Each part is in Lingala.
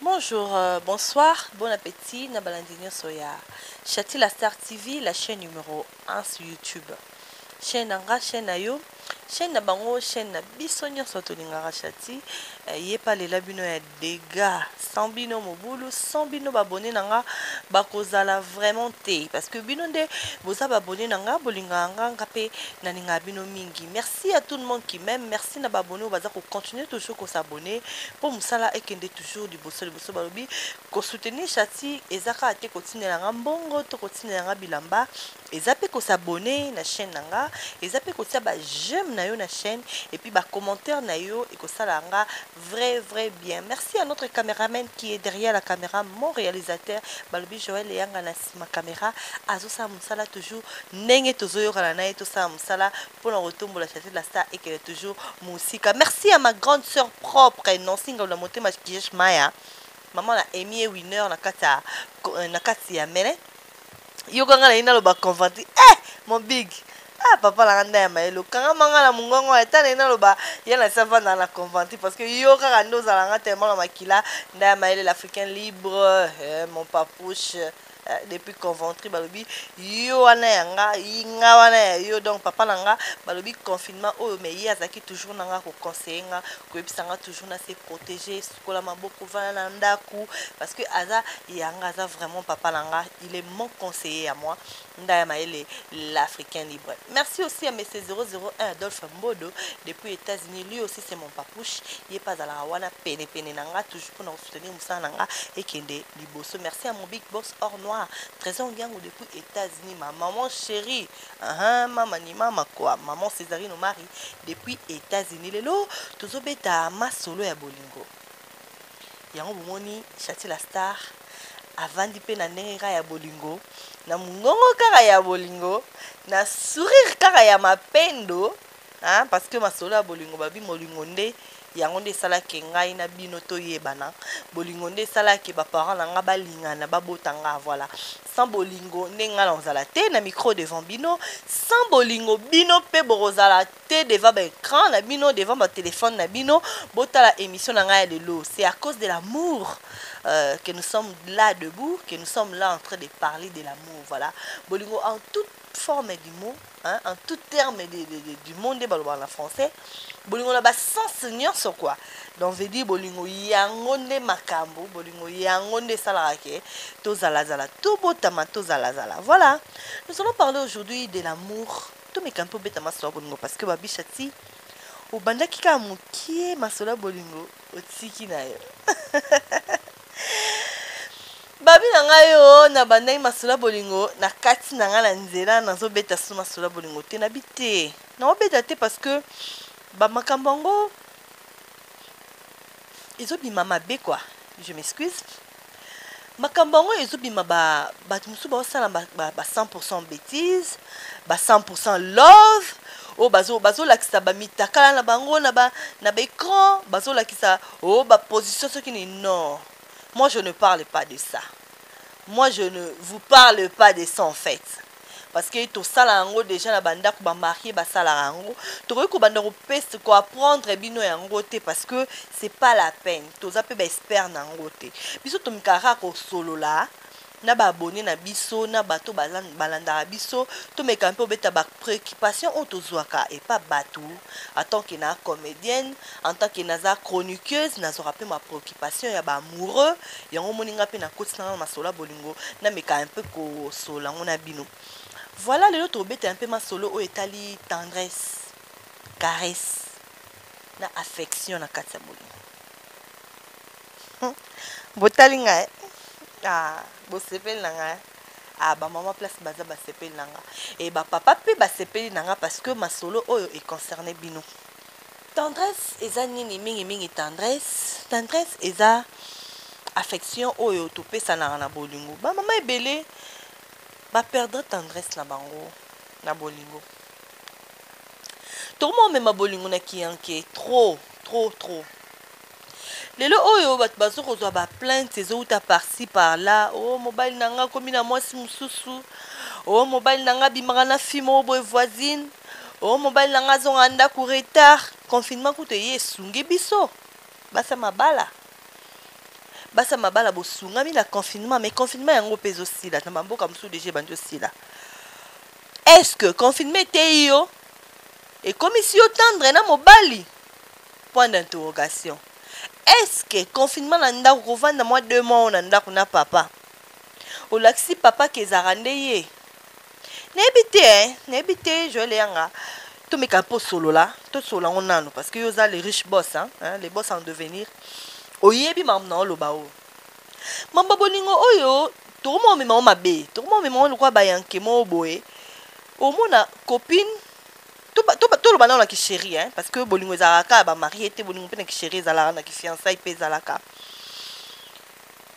Bonjour, bonsoir, bon appetit na balandi nionso ya Shati la Star TV, la chaîne numero 1 sur YouTube. Chaîne na nga, chaîne na yo, chaîne na bango, chaîne na biso nionso tolingaka Shati. Eh, ye pa lela bino ya dégâts. Sans bino mobulu, sans bino babone na nga bakozala vraiment te parce que bino nde boza babone na nga, bolingaka nga, nga pe nalingaka bino mingi. Merci à tout le monde qui m'aime. Merci Merci na ba abonnes oyo baza ko continuer toujours ko s'abonner po musala ekende toujours liboso liboso balobi ko soutenir Shati eza kaka te kotindela nga mbongo to kotindela nga bilamba eza pe ko s'abonner na chaîne na nga eza pe kotia ba j'aime na yo na chaîne et puis ba commentaires na yo ekosala nga vrai vrai bien merci à notre cameraman qui est derrière la caméra mon réalisateur balobi Joël Eyanga na sima caméra azosala musala toujours ndenge tozoyokana na ye tosala musala pona kotombola chante la star ekele toujours musika merci à ma grande sœur propre nancy ngalu na motema kijesh maya maman na emie winner na kati ya euh, na kati ya mele yoka nga na ye naloba conventi eh mon big ah papa na nga nda ya mayele okangama nga na mongongo ya tana ye naloba ye na si avandaka na conventi parce que yo kaka nde ozala nga tellement na makila nda ya mayele l'africain libre eh, mon papouche Eh, depuis conventry balobi yo wana ya nga nga wana ya yo donc papa na nga balobi confinement oyo mais ye azalaki toujours na nga koconseille nga koyebisa nga toujours na se protéger sukola maboko vana na ndako parce que aza ya nga aza vraiment papa na nga il est mon conseiller ya moi nda ya mayele l'africain libre merci aussi à monsieur 001 adolphe mbodo depuis états-unis lui aussi c'est mon papouche ye mpe azalaka wana penepene na nga toujours mpona soutenir musala na nga ekende liboso merci à mon big boss or noir trésor ngiango depuis états-unis ma maman chérie uh-huh, mama ni mama quoi maman césarine omari depuis états-unis lelo tozobeta masolo ya bolingo yango bomoni chati la star avandi mpe na ndenge kaka ya bolingo na mongongo kaka ya bolingo na sourire kaka ya mapendo hein parce que masolo ya bolingo babi molingo nde yango nde esala ke ngai na bino toyebana bolingo nde esala ke ba parents na nga balingana babota nga voilà sans bolingo nde nga na ozala te na micro devant bino sans bolingo bino pe bokozala te devant ba écran na bino devant ba téléphone na bino botala émission na ngai ya lelo c'est à cause de l'amour euh, que nous sommes là debout que nous sommes là en train de parler de l'amour voilà bolingo en toute forme du mot hein, en tout terme de, de, de, du monde nde balobaka na français bolingo na basens nyonso kua donc veut dire bolingo yango nde makambo bolingo yango nde esalaka ke tozalazala tobotama tozalazala voilà nous allons parler aujourd'hui de l'amour tomeka mpe obeta masolo ya bolingo parce que babisha ti obandaki kaka mokie masolo ya bolingo otiki na yo babi na ngai yo oh, na bandaki masolo bolingo na kati na ngai na nzela nazobeta so masolo bolingo te nabi te naobeta te parce que bamakambo yango ezobima mabe kua je m'excuse makambo yango ezobima bato mosusu baosala ba, ba, ba 100 bétise ba 100 love oyo oh, bazolakisa ba bamitakala na bango na baecran bazolakisa ba Oh ba position soki ni non moi je ne parle pas de ça moi je ne vous parle pas de ça en fait parce que tosala yango dejà na bandako ba marie basalaka yango tokoki kobanda kopesa ko apprendre bino yango te parce que c'est pas la peine toza mpe ba expert na yango te biso tomikaka kaka kosolola na ba abonnes na biso na bato balandaka biso tomeka mpe obeta ba preoccupations oyo tozwaka epa bato en tant que na comedienne en tant que naza chroniqueuse nazwaka mpe ma preoccupations ya ba amoureux yango omoni nga mpe na kotisa nga masolo ya bolingo nameka un peu kosolola yango na bino voilà lelo tobeta un peu masolo oyo etali tendresse caresse na affection na kati ya bolingo botali nga eh? ah, bosepeli na nga eh? ah, bamama place baza basepeli na nga e eh, bapapa mpe basepeli na nga parce que masolo oyo econcerne bino tendresse eza nini mingimingi tendresse tendresse eza affection oyo topesanaka na bolingo bamama ebele baperdre tendresse na bango na bolingo tokoma omema bolingo na kiyanke trop trop trop lelo oyo bato bazo kozwa ba plainte ezowuta parci par là o oh, mobali na nga akomi na mwasi mosusu o oh, mobali na nga abimaka na fille moko boye voisine o oh, mobali na nga azonga ndako retard confinement kutu eye esungi biso basa mabala basa mabala bosungami na confinement mais confinement yango mpe ezosila na bamboka mosusu deja ebandi osila est ce que confinement eteyi yo ekomisi yo tendre na mobali point d'interrogation est ce que confinement na ndaku kovanda mwa deux mois oyo na ndaku na papa olakisi papa ke ezalaka nde ye nayebi te eh, nayebi te joel eyanga tomeka mpo osolola tosolola yango nano parce que yo oza le riche boss hein, hein, le boss en devenir oyebi makambo na oloba oyo mamba bolingo oyo tokoma omema o mabe tokoma omema o lokola bayanke moko boye omona copine toloba nao na kisheri hein, parce que bolingo ezalaka kaka ba marie te bolingo mpe na kisheri ezalaka na kifiansai mpe ezalaka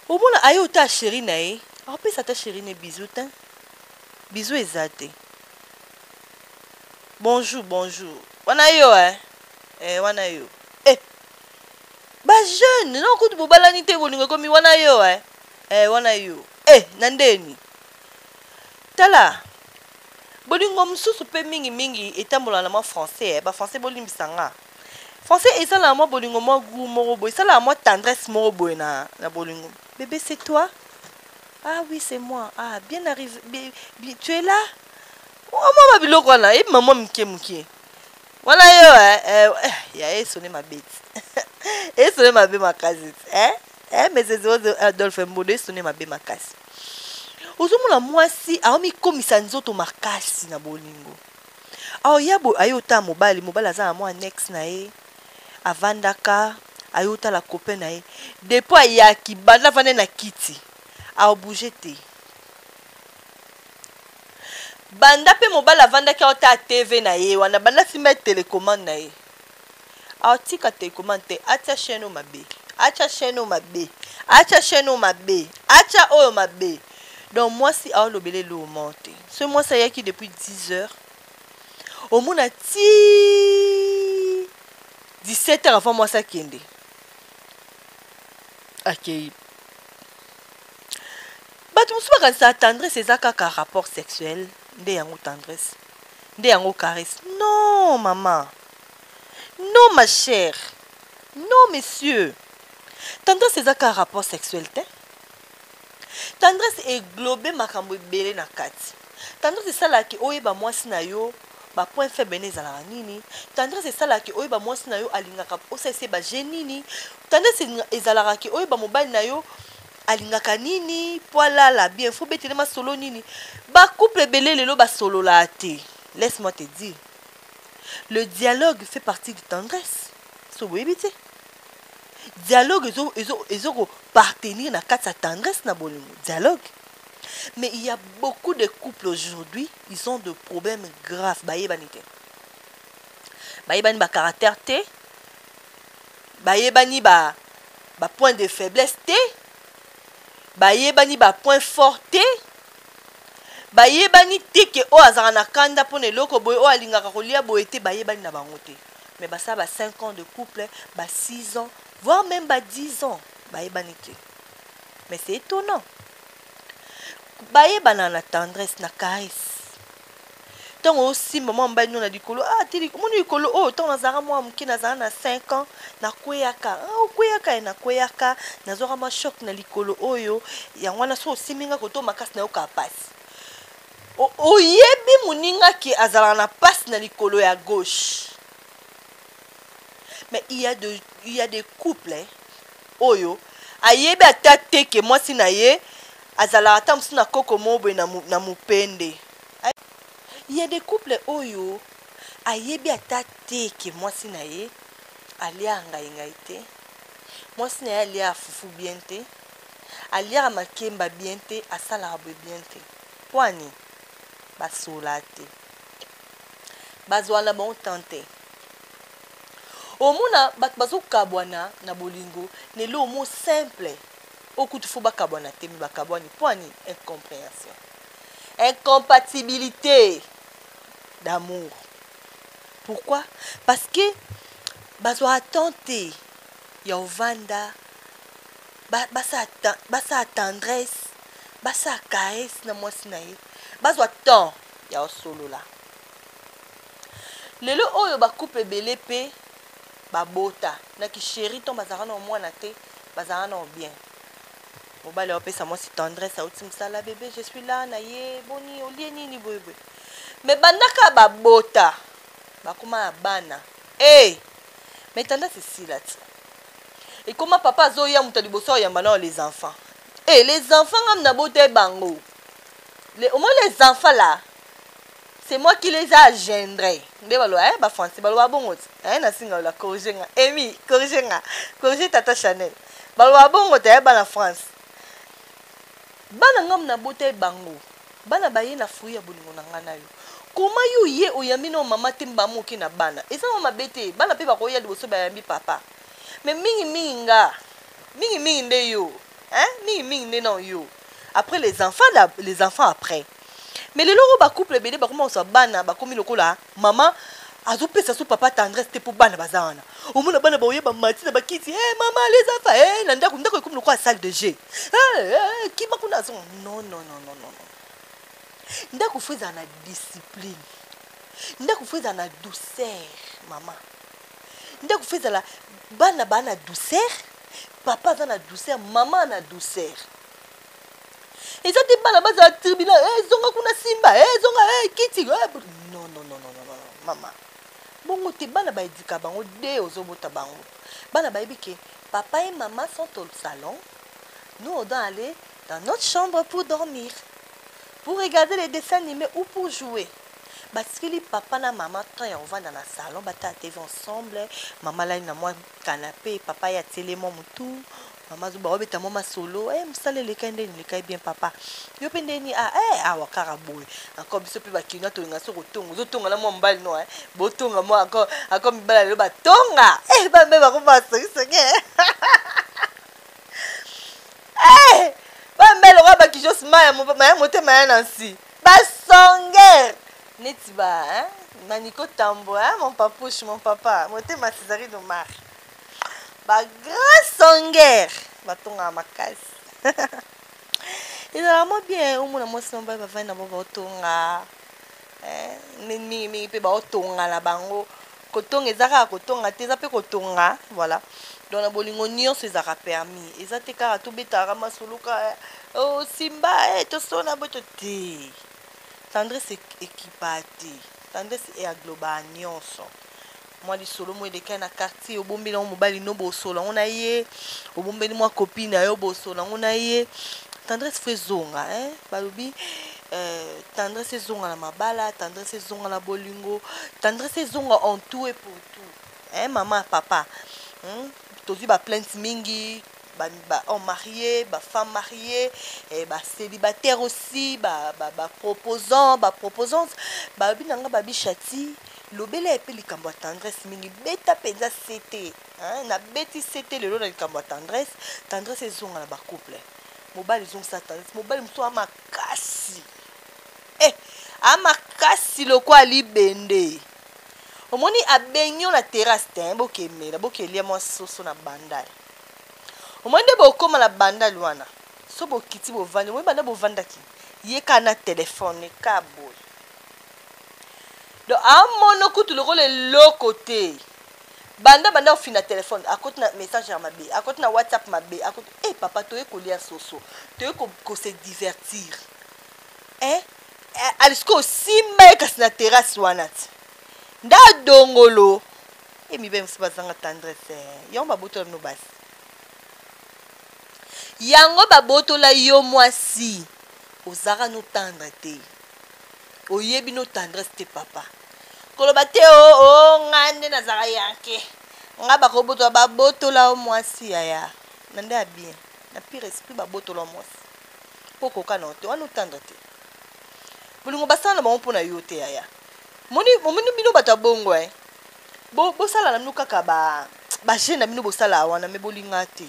omona aye ota sheri na ye akopesa ata sheri ne bizu te bizu eza te bonjour bonjour wana yo hein? eh, wana yo eh. bajeune no kutu bobalani te bolingo ekomi wana yo hein? eh, wana yo eh, na ndeni tala Bolingo mosusu pe mingi mingi etambola na mwa français eh ba français bolimbisa nga. Français esalaka mwa bolingo mwa gout moko boye esalaka mwa tendresse moko boye na na bolingo bebe c'est toi ah oui c'est moi ah bien arrive tu es là mwa mwa ba biloko wana ebima mwa mike mike wana yo eh, eh, eh ya esone mabeti esone mabe makasi eh Eh, mais c'est Zozo Adolphe Mbodo esone mabe makasi. Ozomona mwasi aomikomisa nzoto makasi na bolingo. Aoya bo aye otala mobali, mobali aza na mwa annexe na ye. Avandaka aye otala copain na ye. Depuis ayaki banda vanda na kiti. Aobouge te. Banda pe mobali avandaki aotala TV na ye wana banda simba ye telecommande na ye. Atika telecomande te atia chaine oyo mabe. Acha chaine oyo mabe. Acha chaine oyo mabe. Acha oyo mabe. Donc mwasi aolobela eloo moko te. Soki mwasi ayaki depuis 10 heures omona ti 17 heures avant mwasi akende akei bato mosusu bakanisaka tendresse eza kaka rapport sexuel nde yango tendresse nde yango caresse non mama Non ma chère non monsieur tendresse eza kaka rapport sexuel te tendresse eglobe makambo ebele na kati tendresse esalaka ke oyeba mwasi na yo ba point faible ne ezalaka nini tendresse esalaka ke oyeba mwasi na yo alingaka osalisa ye ba jeu nini tendresse ezalaka ke oyeba mobali na yo alingaka nini mpo alala bien fo obetele masolo nini ba couple ebele lelo basololaka te laisse moi te dire le dialogue fait partie de tendresse so boyebi te dialogue ezokopartenir na kati ya tendresse na bolingo dialogue mais il y a beaucoup de couples aujourd'hui ils ont de problèmes graves bayebani te bayebani bacaractère te bayebani ba bapoint de faiblesse te bayebani bapoint fort te bayebani te ke oyo azalaka na kanda mpo na eloko boye oyo alingaka kolia boye te bayebani na bango te mais basala ba 5 ans de couple ba 6 ans voire même ba 10 ans bayebani te mais c'est étonnant bayebana na tendresse na caresse ntango osimba mwa mobali no na likolo ah, te omoni likolo oyo oh, ntango nazalaka mwa moke nazala na 5 ans nakweyaka ah, okweyaka ye nakweyaka nazwaka mwa shok na likolo oyo oh, yango wana soki osimbi nga koto makasi nayokaa mpasi oyebi moninga ke azalaka na mpasi na likolo ya gauche mais il y a de, il y a des couples hein? oyo ayebi ata te ke mwasi na ye azalaka ata mosusu na koko moko boye na mupende. Il ya des couples oyo ayebi ata te ke mwasi na ye aliaka ngayi ngayi te, mwasi na ye aliaka fufu bien te, aliaka makemba bien te, asalaka boye bien te. Pwani? Basola te. Bazwaka na bango temps te. omona batu bazo kabwana na bolingo lelo omo simple oyo kutu faut bakabwana te mais bakabwani pona nini incomprehension incompatibilite d'amour pourquoi parce que bazwa attente te ya ovanda basala ba, ba, ba tendresse basala caresse na mwasi na ye bazwa temps ya osolola Lelo oyo ba couple ebele pe ba bota na ki cherie ton bazalaka nao muana te bazalaka nao bien mobali ao pesa muasi tendresse auti musala bebe je suis là na ye boni olie nini boye boye mais banda ka ba bota bakoma na bana eh mais tendresse esila ti ekoma papa azoya moto ya liboso ayamba nao les enfants eh les enfants ngam na bota bango les, au moins les enfants là C'est moi qui les a agendres. Nde baloba eh ba français baloba bongo te. Eh na singa la corriger nga. Emi, corriger nga. Corriger tata Chanel. Baloba bongo te eh bana France. Bana ngam na bota e bango. Bana baye na fruit ya bolingo na nga na yo. Koma yo ye oyambi na mama te mbamu oke na bana. Eza mama mabe te. Bana pe bakoya liboso bayambi papa. Mais mingi mingi nga. Mingi mingi nde yo. Hein? Mingi mingi nde na yo. après les enfants la, les enfants après mais lelo oyo bacouple ebele bakoma koswa bana bakomi lokola mama azopesa so papa tendresse te mpo bana baza wana omona bana baoye bamati na bakiti e mama lezafa e eh, na ndako ndako ekomi lokola salle de jeu eh, eh, kima kuna azonga non non non non non ndako fo ezala na discipline ndako fo ezala na douceur mama ndako fo ezala bana baa na douceur papa aza na douceur mama na douceur eza te bana bazala tribuna eh, ezonga kuna simba eh, ezonga eh, kiti non, non, non, non, non, mama bongo te bana baedika bango de ozobota bango bana bayebi ke papa et mama sont au salon nous on doit aller dans notre chambre pour dormir pour regarder les dessins animés ou pour jouer Batikeli papa na mama temps ya kovanda na salon batala TV ensemble. Mama alali na mwa canape, papa ye atieli ye mwa mutu. Mama azo bao beta mwa masolo, eh mosala eleka ye ndeni? Eleka ye bien papa. Yo pe ndeni? Ah eh awa kaka boye. Encore biso pe ba kinois tolingaka soki kotonga, ozo tonga na mwa mobali no eh. Bo tonga mwa encore encore mibali ya lelo ba tonga. Eh bana mibali bakoma ba soki soki eh. Eh bana mibali lokola ba kijos maya maya motema ya na nsi. Ba songer neti ba hein Manico Tambo hein mon papouche mon papa motema Césarine Omar ba grand songer batongaka makasi ezalaka mwa bien omona mwasi mobali bavandi na bango baotonga mingimingi mpe baotonga na bango Kotonga eza kaka kotonga te eza pe kotonga voilà donc na bolingo nionso ezalaka permis eza te kaka tobetaka ka masolo ka oh simba eh tosona boye to te tendresse ekipa te tendresse e agloba nionso mwa lisolo mo elekaki na quartier obombeli yango mobali no bosolo yango na ye obombeli mwa copine na yo bosolo yango na ye tendresse fo ezonga eh balobi Eh tendresse ezonga na mabala tendresse ezonga na bolingo tendresse ezonga en tout et pour tout eh mama papa hmm? tozwi ba plainte mingi ba, ba hommes mariés ba femmes mariées eh, ba célibataire aussi ba, ba, ba proposants ba proposantes balobi na nga babi chati lobela ye mpe likambo ya tendresse mingi beta mpenza sete nabeti sete lelo na likambo ya tendresse tendresse ezonga na bacouple mobali ezongisa tendresse mobali mosusu makasi eh, a makasi lokola libende omoni abengi yo na terrasse te eh, bokemela bokelia mwa soso na bandal omoni nde bokóma na bandal wana so bokiti bovandi omoni banda bovandaki ye kaka na telefone ka boye do amono kutu lokola eloko te Banda banda ofina telephone akoti na message ya mabe akoti na whatsapp mabe akoti eh papa toye kolia soso toye ko, ko se divertir eh, eh alisiko osimba ye kasi na terrasse wana ti nda dongolo e mibali mosusu bazanga tendresse eh. yango babotola bino basi yango babotola yo mwasi ozalaka notandre te oyebi notendresse te papa koloba te o oh, oh, nga nde nazala yanke nga bakobotola babotola o mwasi yaya na nde ya bien na pire esprit babotola mwasi mpo okoka na yo te wana otanda te bolingo basala na bango mpo na yo te yaya omoni bino bato ya bongo e eh? bosala na bino kaka bajeune na bino bosala wana me bolinga te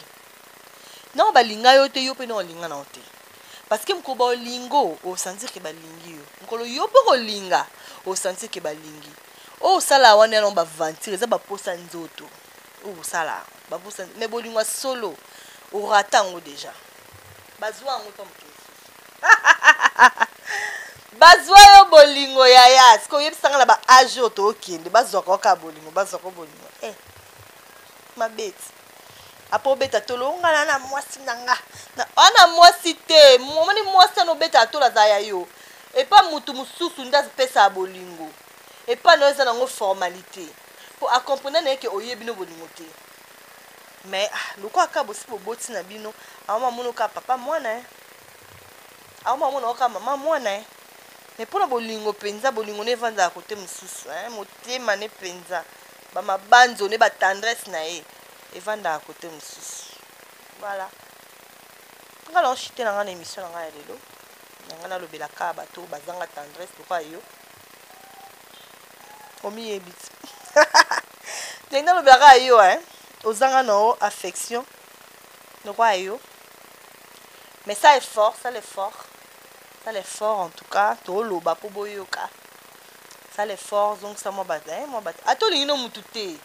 nao balinga yo te yo mpe nao linga nao te parce que mokolo baolingo osentir ke balingi yo mokolo yo mpe kolinga osentir ke balingi oyo osala wana yango baventure eza baposa nzoto oyo osala baposa me bolingo ya solo orata yango deja bazwa yango ta moke bazwa yo bolingo yaya siko oyebisanga na baage oyo tookende bazwaka oyo kaka bolingo bazwaka bolingo e eh, mabeti apo obeta tolo nga na na mwasi na nga ana mwasi te omoni mwasi ana obetaka tolo aza ya yo epa motu mosusu nde apesaka bolingo epa na yo eza nango formalite mpo akomprena na ye ke oye bino bolingo te mais ah, lokola kaka bosi boboti na bino aoma mono kaka papa mwana eh. aoma mona oka mama mwana eh. mais mpo na bolingo mpenza bolingo ne evandaka kote mosusu eh. motema ne mpenza Ba mabanzo ne ba tendresse na ye evandaka cote mosusu. Voilà. Nga nao chute na nga na emission na nga ya lelo. Na nga nalobela ka bato bazanga tendresse lokola yo. Omiyebi ti. Ndenge nalobela ka yo hein. Ozanga na o affection lokola yo. Mais ça est fort, ça l'est fort. Ça l'est fort en tout cas. Toloba po boyoka. sala effort zongisa mwa bat eh, mwa bat ata olingi no mutu te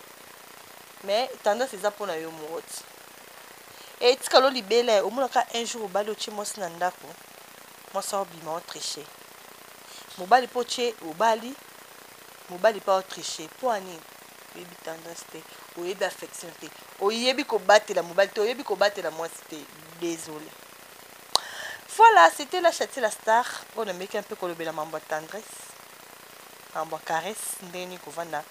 mais tendance eza mpo na yo moko ti e tikalo libela ye omonaka un jour obali otye mwasi na ndako mwasi aobima otriche mobali mpo otye obali mobali mpo aotriche mpo ani oyebi tendance te oyebi affection te oyebi kobatela mobali te oyebi kobatela mwasi te désolé Voilà, c'etait la Chati la star oyo nameki un peu kolobela mambo ya tendresse, mambo ya caresse, ndenge nini kovanda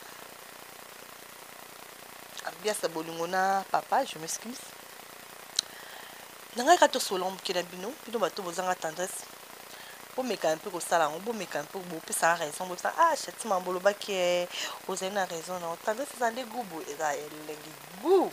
ambiance ya bolingo na papa, je m'excuse. Na ngai kaka tosolola moke na bino, bino bato oyo bozanga tendresse, bomeka un peu kosala yango, bomeka un peu bopesaka raison, bopesaka ah Chati mambo olobaki eh, ozali na raison na yo, tendresse eza nde goût boye, eza elengi goût.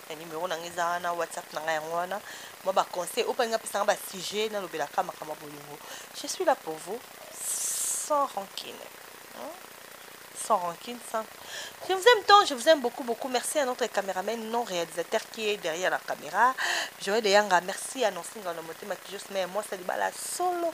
Eh, numero na nga eza wana whatsapp na nga yango wana mwa baconseil oyo mpani napesanga basujet nalobelaka makambo ya bolingo je suis là pour vous sans rancune hein? sans rancune sans je vous aime tant je vous aime beaucoup beaucoup merci à notre caméraman non réalisateur qui est derrière la caméra joël eyanga merci à nonsinga na motema kijosme mwasi libala solo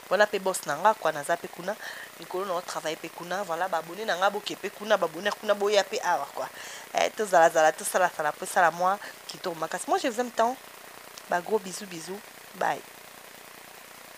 Wana pe boss na nga quoi naza pe kuna likolo nao travailler pe kuna voilà ba abonnes na nga boke pe kuna ba abonnes kuna boya pe awa quoi eh tozala zala tosala sala po esala mwa kitoko makasi moi je vous aime tant ba gros bisous bisous bye